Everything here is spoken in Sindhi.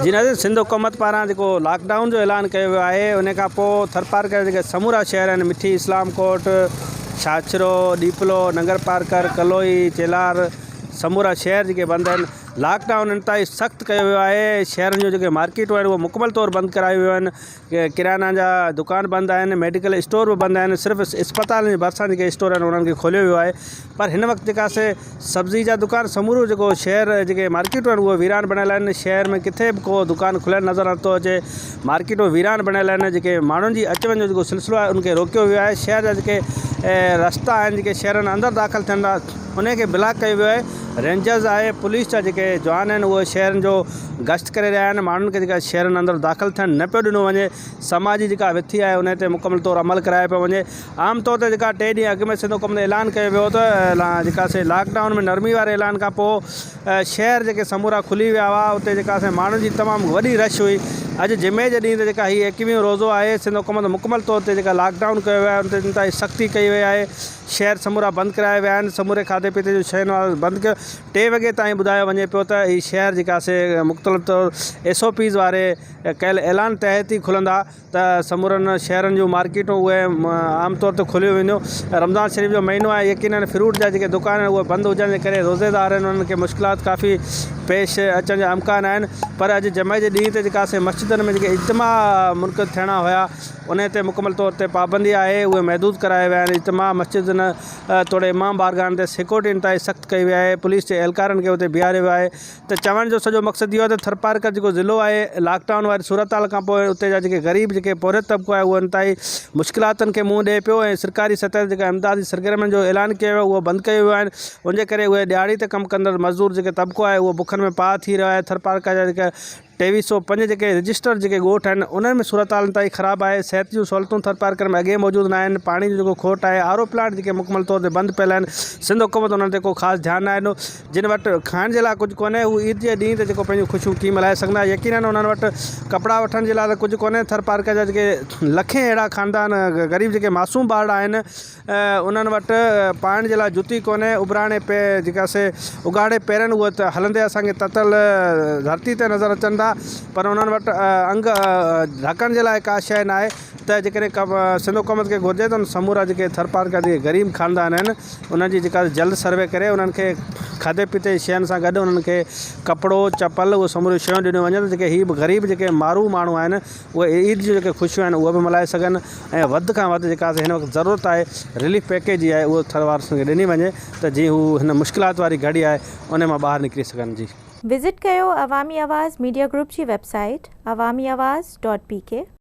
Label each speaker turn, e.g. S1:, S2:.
S1: جي ناظرين سنڌ حڪومت پاران جيڪو لاڪ ڊائون جو اعلان ڪيو ويو آهي ان کان پوء ٿرپارڪر جا جيڪي سمورا شهر آهن مٺي اسلام ڪوٽ ڇاڇرو ڏيپلو ننگر پارڪر ڪلوئي چيلار سمورا شهر جيڪي بند آهن لاڪ ڊائون انتهائي سخت ڪيو ويو آهي شهرن جون جيڪي مارڪيٽون آهن اهي مڪمل طور بند ڪرايون ويون آهن ڪريانه جا دڪان بند آهن، ميڊيڪل اسٽور به بند آهن، صرف اسپتالن جي ڀرسان جيڪي اسٽور آهن انهن کي کوليو ويو آهي پر هن وقت جيڪا سي سبزي جا دڪان سمورو جيڪو شهر جيڪي مارڪيٽون آهن اهي ويران بڻيل آهن شهر ۾ ڪٿي به ڪو دڪان کليل نظر نه ٿو اچي مارڪيٽون ويران بڻيل آهن جيڪي ماڻهن جي اچ وڃ جو جيڪو سلسلو آهي ان کي روڪيو ويو آهي شهر جا جيڪي رستا آهن جيڪي شهرن اندر داخل ٿين ٿا انهن کي بلاڪ ڪيو ويو آهي رينجرز آهي پوليس جا جيڪي جوان آهن اهي شهرن جو گشت ڪري رهيا آهن ماڻهن کي جيڪا شهرن اندر داخل ٿيڻ نه پيو ڏنو وڃي سماج جي جيڪا وٿي آهي انهي تي مڪمل طور عمل ڪرايو پيو وڃي عام طور تي جيڪا ٽي ڏينهن اڳ ۾ سنڌ حڪومت اعلان ڪيو ويو ته جيڪا سي لاڪ ڊائون ۾ نرمي واري اعلان کان پوء شهر جيڪي سمورا کلي ويا هئا اتي جيڪا سي ماڻهن جي تمام وڏي رش هئي اڄ جمعي جي ڏينهن تي جيڪا هي ايڪويهون روزو آهي سنڌ حڪومت مڪمل طور تي جيڪا لاڪ ڊائون ڪيو ويو آهي انتهائي سختي ڪئي وئي آهي شهر سمورا بند ڪرايا ويا آهن، سموري کاڌي پيتي جون شين وارو بند ڪيو، ٽي وڳي تائين ٻڌايو وڃي پيو ته هي شهر جيڪي آهي سي مختلف طور ايس او پيز واري ڪيل اعلان تحت ئي کلندا ته سمورن شهرن جون مارڪيٽون اهي عام طور تي کوليون وينديون، رمضان شريف جو مهينو آهي يقينن فروٽ جا جيڪي دڪان آهن اهي بند هجڻ جي ڪري روزي دار آهن انهن کي مشڪلات ڪافي پيش اچڻ جا امڪان آهن پر اڄ جمعي جي ڏينهن تي جيڪي آهي سي مسجدن ۾ جيڪي اجتماع منعقد ٿيڻا هيا انهيء تي مڪمل طور تي پابندي آهي، اهي محدود ڪرايا ويا آهن، اجتماع مسجدن توڙي امام بارگاهن تي سيڪيورٽي انتهائي سخت ڪئي وئي آهي، پوليس جي اهلڪارن کي اتي بيهاريو ويو آهي ته چوڻ جو سڄو مقصد اهو آهي ته ٿرپارڪر جيڪو ضلعو آهي لاڪ ڊائون واري صورتحال کانپوء اتي جا جيڪي غريب جيڪي پورهيت طبقو آهي اهو انتهائي مشڪلاتن کي منهن ڏئي پيو ۽ سرڪاري سطح تي جيڪا امدادي سرگرمين جو اعلان ڪيو ويو آهي اهو بند ڪيو ويو آهن ان جي ڪري اهي ڏهاڙي تي ڪم ڪندڙ مزدور جيڪي طبقو آهي اهو بکن ۾ پاهه ٿي رهيو آهي ٿرپارڪر جا جيڪي ٽيوي سؤ پنج جيڪي رجسٽر جيڪي ڳوٺ آهن انهن ۾ صورتحال انتهائي خراب آهي صحت جون سهولتون ٿرپارڪر ۾ اڳيئي موجود ناهن پاڻي جو جيڪو کوٽ آهي آر او پلانٽ جيڪي مڪمل طور تي بند پيل آهن سنڌ حڪومت انهن تي ڪو خاص ڌيان ناهي ڏنو جن وٽ کائڻ جي لاء ڪجهه ڪونهي هو عيد جي ڏينهن تي جيڪو پنهنجون خوشيون ڪيئن ملهائي سگهندا يقينن انهن وٽ ڪپڙا وٺڻ جي لاء ته ڪجهه ڪونهي ٿرپارڪر جا جيڪي لکين اهڙا خاندان غريب جيڪي معصوم ٻارڙا آهن انهن وٽ پائڻ جي لاء جتي ڪونهي، ابراڻي پي جيڪا سي اگهاڙي پيرن اهي ته هلندي اسان کي تتل ڌرتي تي نظر اچن ٿا پر انهن وٽ انگ ڍڪڻ جي لاء ڪا شيء ناهي ته جيڪڏهن سنڌ حڪومت کي گهرجي ته سمورا جيڪي ٿرپارڪر جي غريب خاندان آهن انهن جي جيڪا جلد سروي ڪري انهن کي کاڌي پيتي جي شين سان گڏ انهن کي ڪپڙو چپل اهو سموريون شيون ڏنيون وڃن ته جيڪي هي غريب جيڪي مارو ماڻهو آهن اهي عيد جون جيڪي خوشيون آهن اهي به ملهائي سگهن ۽ وڌ کان وڌ جيڪا هن وقت ضرورت آهي رليف پيڪيج جي آهي اهو ٿر وارن کي ڏني وڃي ته جيئن هو هن مشڪلات واري گهڙي آهي ان مان ٻاهر نڪري سگهن جي. وزٽ ڪيو
S2: عوامي آواز ميڊيا گروپ جي web
S1: site
S2: Awami Awaz dot P ڪي.